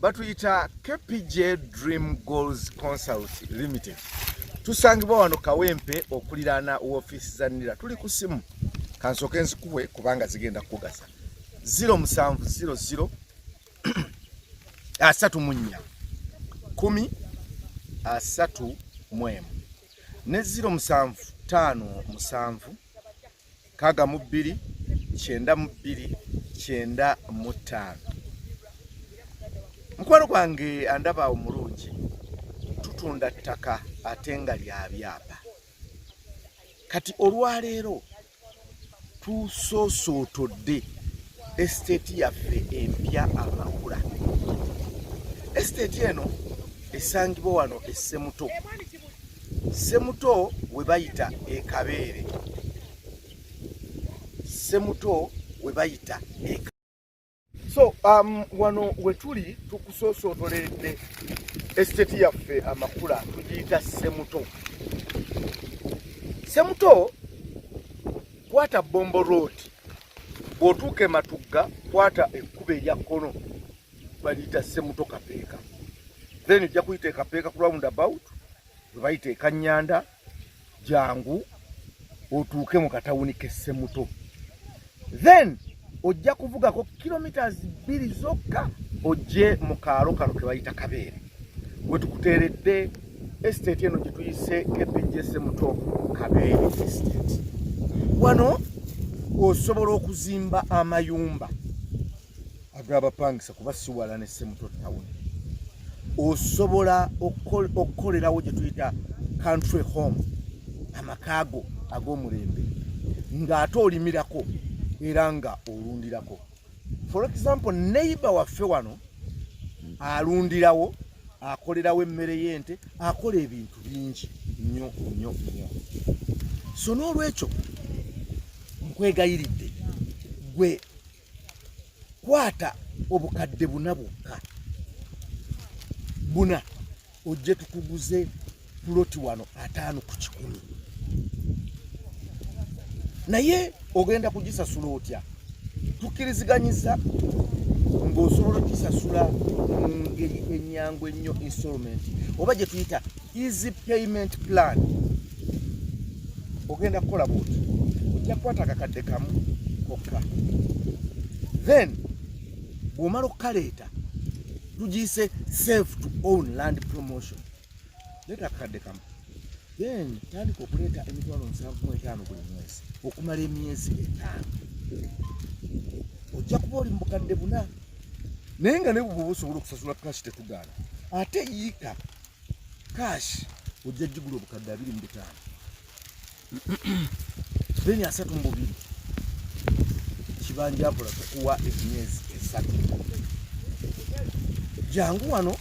batuyita kpj dream goals consult limited tusangibwa wano kawempe okuliraana wofiisi za nira tuli ku simu kansooka enzikuwe kubanga zigenda kukugasa 0700 asatu mu nnya kumi asatu mu emu ne 07 ttaano musanvu nkaaga mu bbiri kyenda mu bbiri kyenda mu ttaano mukwano gwange andaba omulungi tutunda ttaka ate nga lya byapa kati olwaleero tusosootodde esiteeti yaffe empya amakula esiteeti eno esangibwa wano essemuto Semuto we bayita ekabeere. Semuto we bayita ekabeere. So um, wano wetuli tukusoosootolede esiteti yaffe amakula tugiyita Semuto. Semuto kwata Bombo Road bw'otuuka e Matugga kwata ekkubo erya kkono baliyita semuto kapeeka then ojja kuyita ekapeeka ku round about webayita ekanyanda jangu otuuke mu katawuni kesemuto then ojja kuvugako kilometres bbiri zokka ojje mu kaalo kano kebayita kabeere wetukuteeredde estate eno gyetuyise kpjsemuto kabeere estate wano osobola okuzimba amayumba agala bapangisa kuba siwala ne semuto town osobola okukolerawo gye tuyita country home amakaago ag'omulembe ng'ate olimirako era nga olundirako for example neighbor waffe wano alundirawo akolerawo emmere y'ente akola ebintu bingi nnyo nnyo nnyo so n'olwekyo nkwegayiridde gwe kwata obukadde buna bwokka buna ojje tukuguze puloti wano ataano ku kikumi naye ogenda kugisasula otya tukkiriziganyiza ng'osobola okisasula mu ngeri ennyangu ennyo insolment oba gye tuyita easy payment plan ogenda kukola bwoti ojja kukwata akakadde kamu kokka then bwomala okukaleeta tugiyise save to own land promotion leeta akakadde kamu then tandika okuleeta emitwalo nsanvu mu etaano buli mwezi okumala emyezi etaano ojja kuba oli mu bukadde buna naye nga nebwoba osobola okusasula kashi tetugaana ate yiika Cash ojja jigula obukadde abiri mu bitaano. Then asatu mu bubiri. Kibanja apola kukuwa emyezi esatu. Jangu wano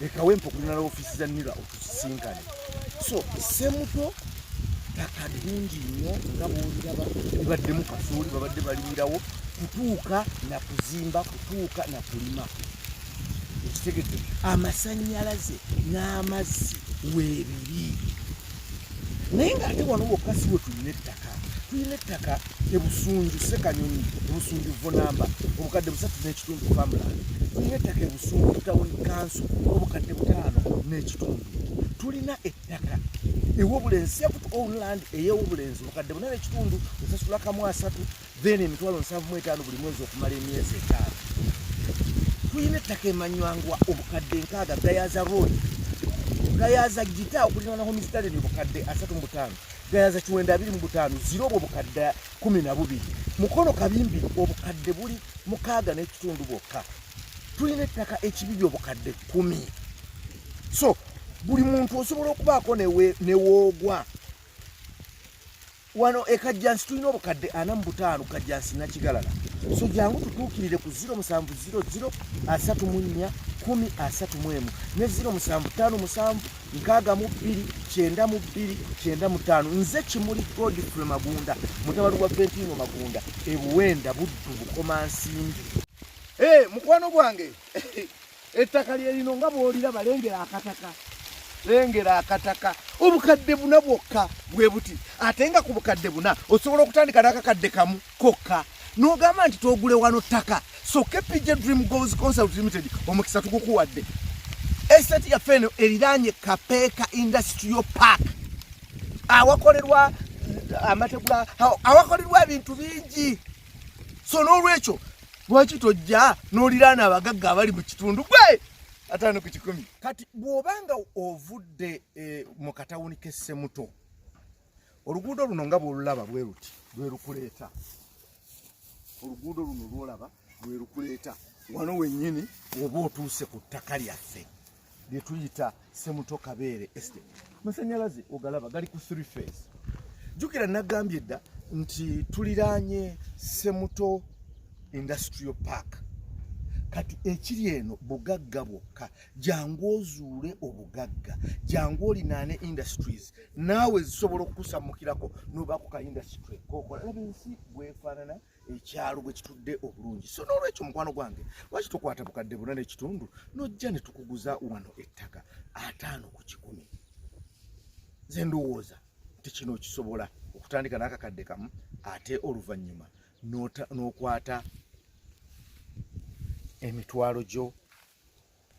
lekawo empa okulina la ofiisi za nira otusisinkane so semuto ttaka lingi nnyo nga bwoliraba libaddemu kasooli babadde balimirawo kutuuka na kuzimba kutuuka na kulima ekitegedde amasanyalaze n'amazzi weebiri naye ng'ate wano wokka si we tulina ettaka tulina ettaka ebusunju sekanyonyi ebusunju vonamba obukadde busatu n'ekitundu famuland tulina ettaka ebusunju tawuni kanso obukadde butaano n'ekitundu tulina ettaka ewobulenzi sept oland eyewobulenzi obukadde buna n'ekitundu osasula kamu asatu then emitwalo nsanvu mu etaano buli mwezi okumala emyezi etaano tulina ettaka emanywangwa obukadde nkaaga gayaza road gayaza gita okulirana homistaleni obukadde asatu mu butaano gayaza kiwenda abiri mu butaano zira obwo obukadde kumi na bubiri mukono kabimbi obukadde buli mukaaga n'ekitundu bwokka tulina ettaka ekibiri obukadde kumi so buli muntu osobola okubaako newoogwa wano e kajjansi tulina obukadde ana mu butaano kajjansi nakigalala so jangu tutuukirire ku 0700 asatu mu nnya kumi asatu mu emu ne 0757 nkaaga mu bbiri kyenda mu bbiri kyenda mu ttaano nze kimuli godfrey magunda mutabali wa ventino magunda ebuwenda buddu bukomansimbi e eh, mukwano gwange Ettaka lye lino nga bw'oliraba lengera akataka lengera akataka obukadde buna bwokka bwe buti ate nga ku bukadde buna osobola okutandika n'akakadde kamu kokka n'ogamba nti togule wano ttaka so kpj dream goals consult limited omukisa tugukuwadde estate yaffe eno eriraanye kapeeka industrial park awakolerwa amategula awakolerwa ebintu bingi so n'olwekyo lwaki tojja n'oliraana abagagga abali mu kitundu gwe ataano ku kikumi kati bw'obanga ovudde eh, mu katawuni k'essemuto oluguudo luno nga bwolulaba bwe luti lwe lukuleeta oluguudo luno lwolaba lwe lukuleeta wano wennyini oba otuuse ku ttaka lyaffe lye tuyita semuto kabeere estate masanyalaze ogalaba gali ku three phase jukira nagambye dda nti tuliraanye semuto industrial park kati ekiri eno bugagga bwokka jangu ozuule obugagga jangu olinaane industries naawe zisobola okukusamukirako nobaako ka industry kokola laba ensi bwefaanana ekyalo bwe kitudde obulungi so n'olwekyo mukwano gwange lwaki tokwata bukadde buna n'ekitundu nojja ne tukuguza wano ettaka ataano ku kikumi ze ndowooza nti kino okisobola okutandika n'akakadde kamu ate oluvannyuma n'okwata emitwalo gyo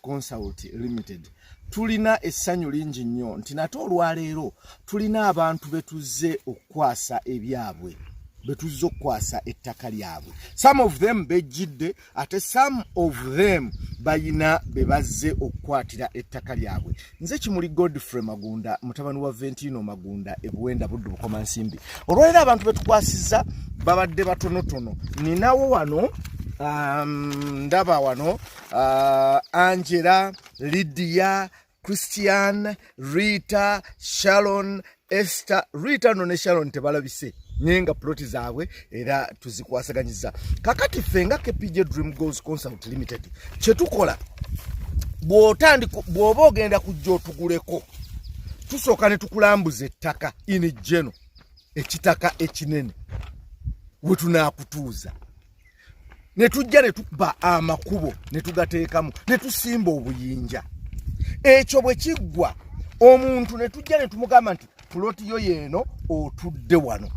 Consult Limited tulina essanyu lingi nnyo nti nate olwaleero tulina abantu be tuzze okukwasa ebyabwe be tuzze okukwasa ettaka lyabwe some of them bejjidde ate some of them bayina be bazze okukwatira ettaka lyabwe nze kimuli godfrey magunda mutabani wa ventino magunda ebuwenda buddu bukoma nsimbi olwaleero abantu be tukwasizza babadde batonotono ninawo wano um, ndaba wano uh, angela lidia christian rita sharon ester rita no ne sharon tebalabise naye nga ploti zaabwe era tuzikwasaganyiza kakati ffe nga kpj dream goals consult limited kyetukola bwotandika bw'oba ogenda kujja otuguleko tusooka ne tukulambuza ettaka ini geno ekitaka ekinene we tunaakutuuza ne tujja ne tukuba amakubo ne tugateekamu ne tusimba obuyinja ekyo bwe kiggwa omuntu ne tujja ne tumugamba nti puloti yo yeeno otudde wano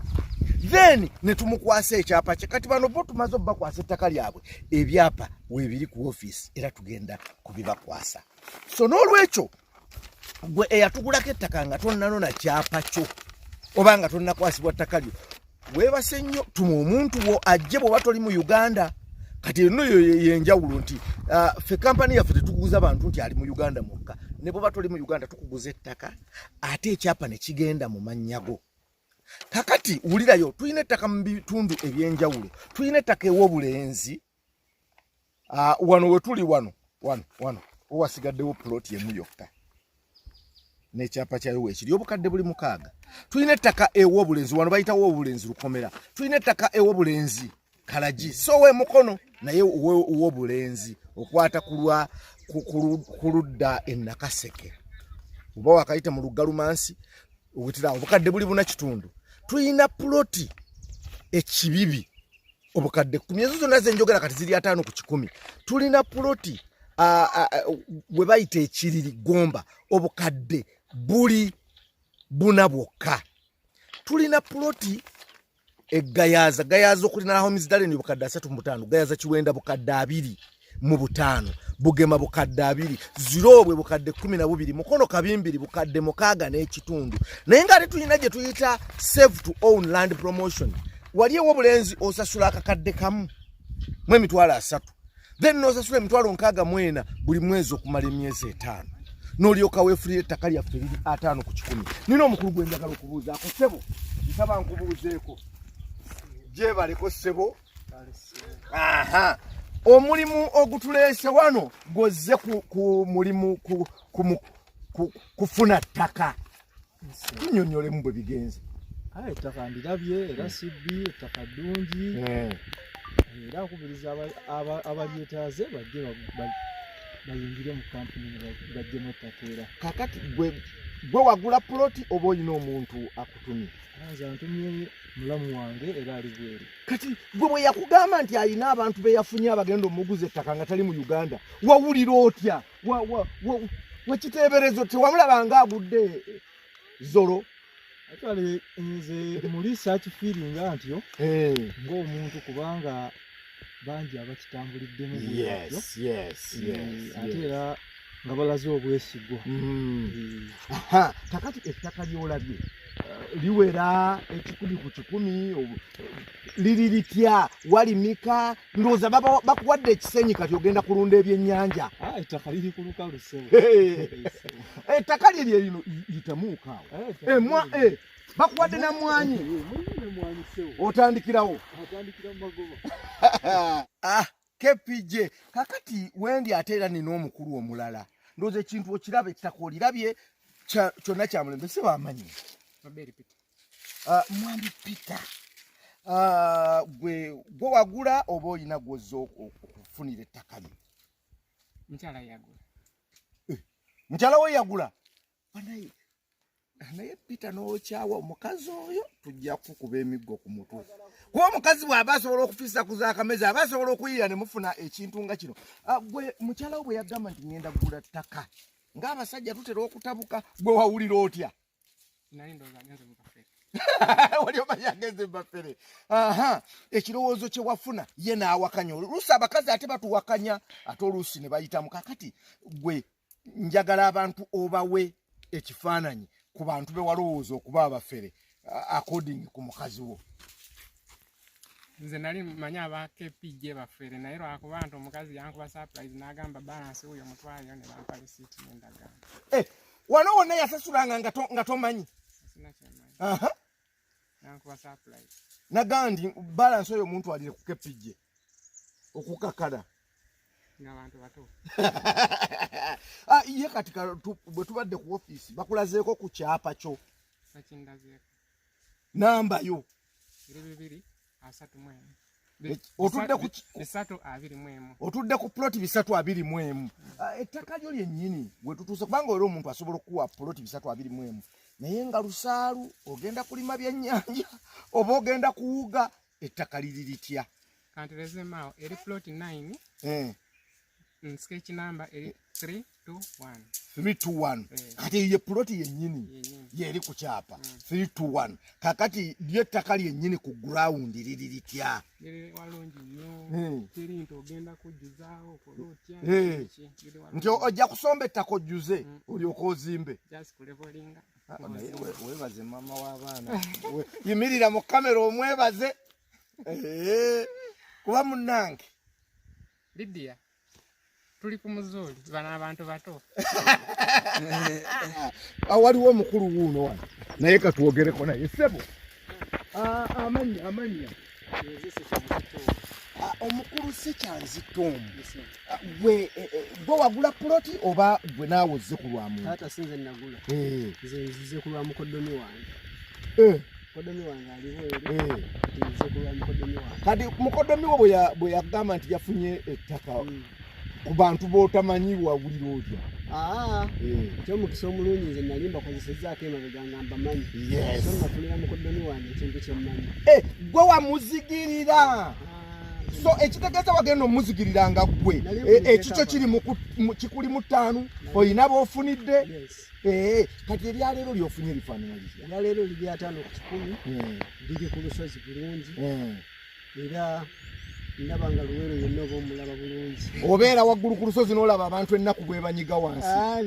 then ne tumukwasa ekyapa kye kati bano bo tumaze obubakwasa ettaka lyabwe ebyapa weebiri ku ofiisi era tugenda kubibakwasa so n'olwekyo gwe eyatugulako ettaka nga tonnanona kyapa kyo oba nga tonnakwasibwa ttaka lyo weebase nnyo tuma omuntu wo ajje bwoba toli mu uganda kati eno yenjawulo nti ah, fe kampani yaffe tetuguza bantu nti ali mu uganda mwokka ne bwoba toli mu uganda tukuguza ettaka ate ekyapa ne kigenda mu mannyago kakati wulirayo tulina ettaka mu bitundu ebyenjawulo tulina ettaka ew'obulenzi Ah, wano wetuli wano wano wano owasigaddewo plot yemu yokka nekyapa kyayo wekiri obukadde buli mukaaga tulina ettaka ewo obulenzi wano bayitawo obulenzi lukomera tulina ettaka ewo obulenzi kalagi so we mukono naye wobulenzi okwata kulwa kuludda enakaseke oba wakayita mu luggalumansi obutira obukadde buli buna kitundu tulina ploti ekibibi obukadde kumi ezo zonna zenjogera kati ziri ataano ku kikumi tulina puloti we bayita ekiriri gomba obukadde buli buna bwokka tulina puloti egayaza gayaza okulina homesdalen obukadde asatu mubutaano gayaza kiwenda bukadde abiri mu butaano bugema bukadde abiri ziroobwe bukadde kumi na bubiri mukono kabimbiri bukadde mukaaga n'ekitundu naye nga ate tulina gye tuyita save to own land promotion wali ewo obulenzi osasula akakadde kamu mu emitwalo asatu then nosasula emitwalo nkaaga mwena buli mwezi okumala emyezi etaano nolyoka wefulira ettaka lyaffe liri ataano ku kikumi nina omukulu gwenjagala okubuuzaako sebo nsaba nkubuuzeeko gyebaleko sebo aha omulimu ogutuleese wano gwozze ku mulimu kufuna ttaka tunyonyolemu bwe bigenze kale ettaka ndirabye era hmm. sibbi ettaka ddungi hmm. era akubiriza abalyetaaze bajje bayingire mu kampuni bajjemu ettaka era kakati gwe wagula puloti oba olina omuntu akutumye nze antumye mulamu wange era ali bweru kati gwe bwe yakugamba nti alina abantu be yafunye abagenda omuguza ettaka nga tali mu uganda wawulira otya wakiteeberezo tewamulaba nga agudde zolo actually nze muli search feeling antyo eh. ng'omuntu kubanga bangi abakitambuliddemu bwatyo eh, ate era nga balaze obwesigwa mm. eh. kakati ettaka lyolabye eh, liwera ekikumi ku kikumi liri litya walimika ndowooza bakuwadde ekisenyi kati ogenda kulunda ebyennyanja ah, ettaka liri ku lukalu ettaka lye lye lino yitamuukaawo eh, emwa bakuwadde na mwanyi otandikirawo ah, kpj kakati wendi ate era nina omukulu omulala ndoza ekintu okiraba ekitaka olirabye kyonna kyamulembe si bamanyi ah, mwami peter ah, gwe gwe wagula oba olina gwoza okufunira ettaka lye mukyala eh, we yagula banaye naye pita nokyawa omukazi oyo tujja kukuba emiggo ku mutwe kuba omukazi bw'aba asobola okufisa ku zakameza aba asobola okuyiira ne mufuna ekintu nga kino ah, gwe mukyala wo bwe yagamba nti ŋenda kugula ttaka ng'abasajja tutera okutabuka gwe wawulira otya wali omanyi agenze mubafere aha ekirowoozo kye wafuna ye n'awakanya oluusi abakazi ate batuwakanya ate oluusi ne bayitamu kakati gwe njagala abantu obawe ekifaananyi ku bantu be walowooza okuba abafere according ku mukazi wo nze nali manyi aba kpj bafere naye lwakuba nti omukazi yankuba surprise n'agamba balansi wuyo mutwaliyo ne bampa lisiiti nendagamba eh, wano wonna yasasulanga nga tomanyi nagamba nti balansi oyo omuntu alire ku kepijje okukakala ah, ye kati bwe tubadde ku ofiisi bakulazeeko ku kyapa kyo nambayo asatu mu emu otudde ku bisatu abiri mu emu otudde ku ploti bisatu abiri mu emu ah, ettaka lyo lyennyini we tutuuse kubanga era omuntu asobola okukuwa ploti bisatu abiri mu emu naye nga lusaalu ogenda kulima byennyanja oba ogenda kuwuga ettaka liri litya kanti lezemaawo eri ploti nine eh. Mm, sketch number 321 321 eh. kati ye plot yenyini yeri ku kyapa 321 mm. kakati lye ttaka lyenyini ku ground liri litya hmm. eh. nti ojja kusomba ettaka ojjuze hmm. olyoka ozimbe ah, webaze mama w'abaana yimirira mu kamera omwebaze eh. kuba munnange Lydia tuli ku muzuuli bano abantu bato ah, waliwo omukulu wuuno wano naye katwogereko naye sebo ah, amanya amanya ah, omukulu sekyanzitoomu gwe eh, eh, gwe wagula puloti oba gwe naawe ozze ku lwamuaata sinze nagula eh. nze nzize ku lwamukoddomi wange kati mukodomi wo bwe yagamba nti yafunye ettaka hmm. ku bantu b'otamanyi wawulira otya ah, eh. kyomukisa omulungi nze nali mbakozesezaako emabega nga mbamanyi so nafunira mukodomi wange ekintu kyemmanyi eh, gwe wamuzigirira ah. so ekitegeeza wagenda omuzigirira nga ggwe eh, ekikyo kiri kikuli mu ttaanu olina b'ofunidde Eh, kati ebyaleero lyofunye lifaanana litya ebyaleero liri ataano ku kikumi eh. biri ku lusozi bulungi eh. era ndaba nga luweero yenna oba omulaba bulungi obeera waggulu ku lusozi n'olaba abantu ennaku bwebanyiga wansi ah,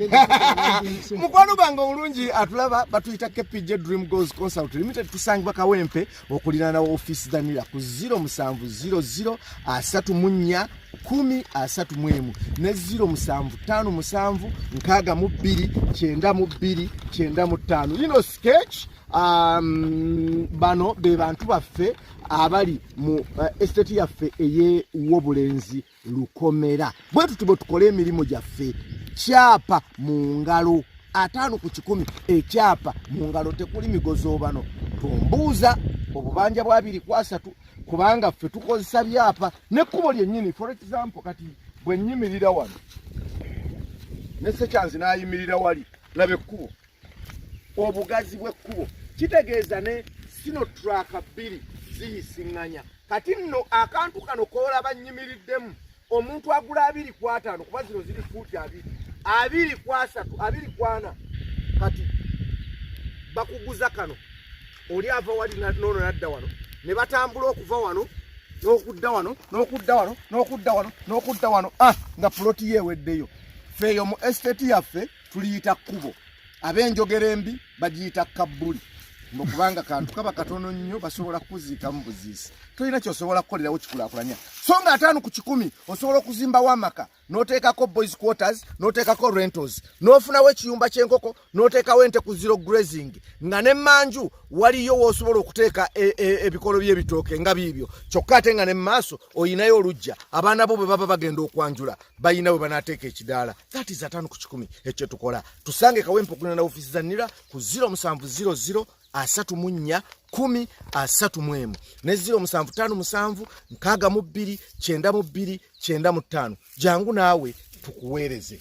mukwano bange omulungi atulaba batuyita kpj dream goes consult limited tusangibwa kawempe okuliraana ofiisi danira ku 0700 asatu mu nnya kumi asatu mu emu ne 0757 nkaaga mu bbiri kyenda mu bbiri kyenda mu ttaano lino sketch um, bano be bantu baffe abali mu uh, estate yaffe ey'obulenzi lukomera bwe tuti bwe tukole emirimu gyaffe kyapa mu ngalo ataano ku kikumi ekyapa mu ngalo tekuli migozoobano tumbuuza obubanja bwa biri ku asatu kubanga ffe tukozesa byapa nekkubo lyennyini for example kati bwe nnyimirira wano ne sekyanzi n'ayimirira wali laba ekkubo obugazi bw'ekkubo kitegeeza ne sino turaaka bbiri ziyisiŋŋanya kati nno akantu kano koolaba nnyimiriddemu omuntu agula abiri ku ataano kuba zino ziri fuuti abiri abiri ku asatu abiri ku ana kati bakuguza kano oli ava wali noono nadda wano ne batambula okuva wano n'okudda wano n'okudda wano n'okudda wano n'okudda wano ah, nga puloti yeeweddeyo feeyo mu esiteti yaffe tuliyita kkubo ab'enjogera embi bagiyita kabbuli mbu kubanga kantu kaba katono nnyo basobola kukuziikamu buziisi tolina kyosobola kukolerawo kikulakulanya so nga ataano ku kikumi osobola okuzimbawo amaka n'oteekako boys quarters n'oteekako rentals n'ofunawo ekiyumba ky'enkoko n'oteekawo ente ku zero grazing nga ne manju waliyo woosobola okuteeka e, e, ebikolo by'ebitooke nga biibyo kyokka ate nga ne mu maaso olinayo olujja abaana bo bwe baba bagenda okwanjula balina bwe banaateeka ekidaala that is atano ku kikumi ekyo tukola tusange kawempo kuna na ofisi za nira ku 0 musanvu 00 asatu munya kumi asatu mwemu ne 0 musanvu tano musanvu nkaga mu bbiri kyenda mu bbiri kyenda mu tano jangu naawe tukuweereze